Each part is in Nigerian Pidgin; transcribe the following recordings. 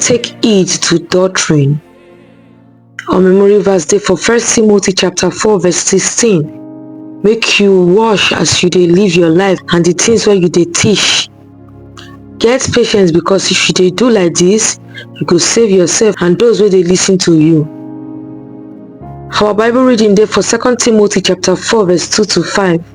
Take heed to doctrine. Our memory verse dey for First Timothy chapter 4 verse 16. Make you wash as you dey live your life and the things where you dey teach. Get patience because if you dey do like this, you go save yourself and those where they listen to you. Our Bible reading dey for Second Timothy chapter 4 verse 2 to 5.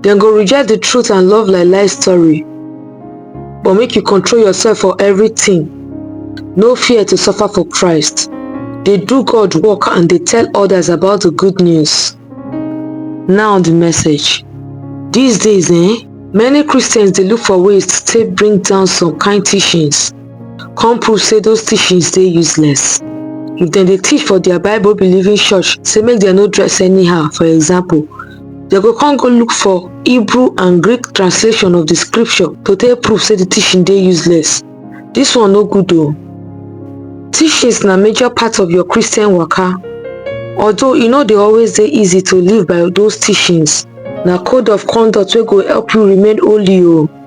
dem go reject the truth and love lie lie story but make you control yourself for everything no fear to suffer for christ dey do god work and dey tell others about the good news now the message these days eh many christians dey look for ways to take bring down some kind teachings come prove say those teachings dey useless if dem dey teach for their bible believing church say make dem no dress anyhow for example Dem go come go look for Hebrew and Greek translation of the scripture to take prove say the teaching dey useless. This one no good o. Teachings na major part of your Christian waka. Although e no dey always dey easy to live by those teachings, na code of conduct wey go help you remain holy o.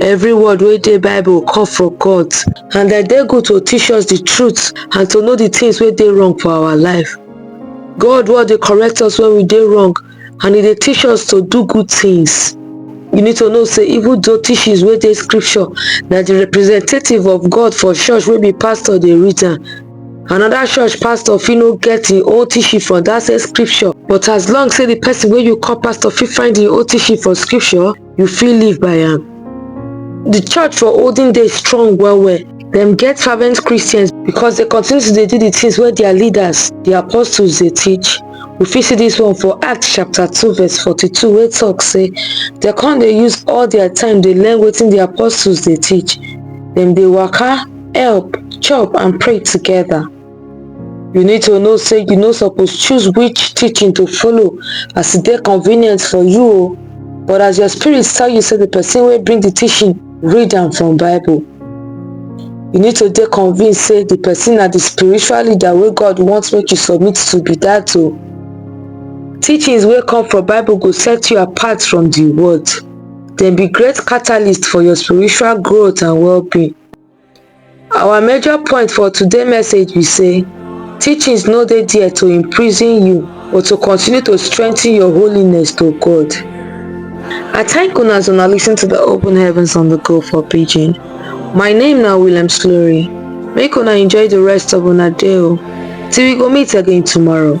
Every word wey dey Bible come from God and dem dey good to teach us the truth and to know the things wey dey wrong for our life. God word dey correct us when we dey wrong and e dey teach us to do good things. You need to know say even though teachings wey dey scripture na the representative of God for church wey be pastor dey read am. Another church pastor fit no get im own teaching from that same scripture but as long say the person wey you call pastor fit find im own teaching for scripture, you fit live by am. Di church for olden days strong well well, dem get fervent Christians because dem continue to dey do di things wey their leaders, di apostles dey teach. We fit see dis one for Acts chapter two verse forty two wey talk say dem come dey use all their time dey learn wetin di apostles dey teach, dem dey waka, help, chop and pray together. You need to know say you no suppose choose which teaching to follow as e dey convenient for you o. But as your spirit tell you say the person wey bring the teaching read am from Bible, you need to dey convinced say the person na the spiritual leader wey God want make you submit to be that o. Teachings wey come from Bible go set you apart from the world. Dem be great catalyst for your spiritual growth and well-being. Our major point for today message be say teachings no dey there to imprison you but to continue to strengthen your holiness to God. I thank una as una listen to the open heavens on the go for pidgin. My name na Williams Glory. Make una enjoy the rest of una day o. Till we go meet again tomorrow.